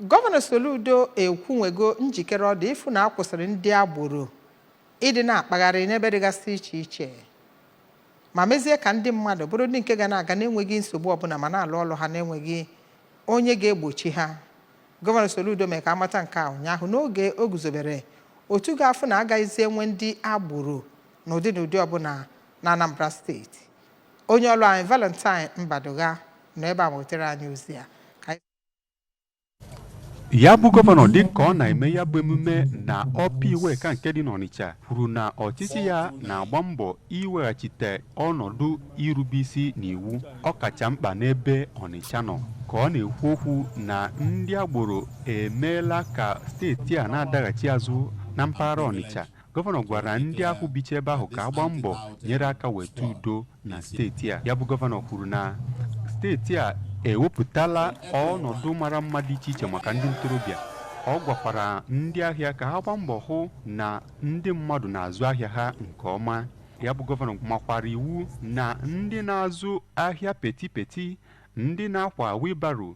Gọvanọ Soludo ekwunwego njikere ọ dị ịfụ na akwụsịrị ndị agboro ịdị na-akpagharị n'ebe dịgasị iche iche ma mezie ka ndị mmadụ bụrụ ndị nke ga na-aga n'enweghị nsogbu ọbụla ma na-alụ ọlụ ha n'enweghị onye ga-egbochi ha gọvanọ Soludo mee ka amata nke a ụnyaahụ n'oge o guzobere otu ga-afụ na agaghịzi enwe ndị agboro n'ụdị n'ụdị ọbụla na Anambra steeti onye ọlụ anyị Valentine Mbadugha nọ ebe a wetara anyị ozi a ya bụ gọvanọ dị ka ọ na-eme ya bụ emume na Upper Iweka nke dị n'ọnịcha kwuru na ọchịchị ya na-agba mbọ iweghachite ọnọdụ irube isi n'iwu ọ kacha mkpa n'ebe ọnịcha nọ ka ọ na-ekwu okwu na ndị agboro emeela ka steeti a na-adaghachi azụ na mpaghara ọnịcha gọvanọ gwara ndị ahụ bicha ebe ahụ ka ha gbaa mbọ nyere aka weta udo na steeti a ya bụ gọvanọ kwuru na steeti a ewepụtala ọnọdụ mara mma dị iche iche maka ndị ntorobịa ọ gwakwara ndị ahịa ka ha gbaa mbọ hụ na ndị mmadụ na-azụ ahịa ha nke ọma ya bụ gọvanọ makwara iwu na ndị na-azụ ahịa petty petty ndị na-akwa wheelbarrow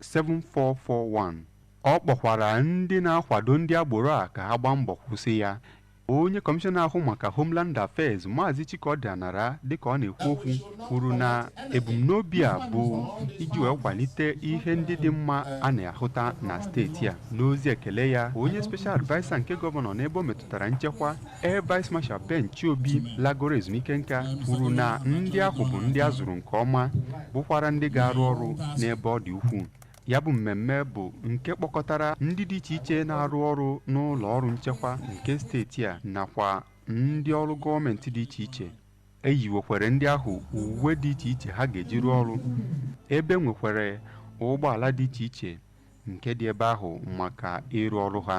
7441 ọ kpọkwara ndị na-akwado ndị agboro a ka ha gbaa mbọ kwụsị ya onye kọmishọna na-ahụ maka Homeland Affairs Maazị Chikọdị Anara dịka ọ na-ekwu okwu kwuru na ebumnobi a bụ iji wee kwalite ihe ndị dị mma a na-ahụta na steeti a n'ozi ekele ya onye special adviser nke gọvanọ n'ebe o metụtara nchekwa Air Vice Marshal Ben Chiobi lagoro ezumike nka kwuru na ndị ahụ bụ ndị a zụrụ nke ọma bụkwara ndị ga-arụ ọrụ n'ebe ọ dị ukwuu ya bụ mmemme bụ nke kpọkọtara ndị dị iche iche na-arụ ọrụ n'ụlọ ọrụ nchekwa nke steeti a nakwa ndị ọrụ gọọmenti dị iche iche e yiwekwere ndị ahụ uwe dị iche iche ha ga-eji rụọ ọrụ ebe e nwekwara ụgbọala dị iche iche nke dị ebe ahụ maka ịrụ ọrụ ha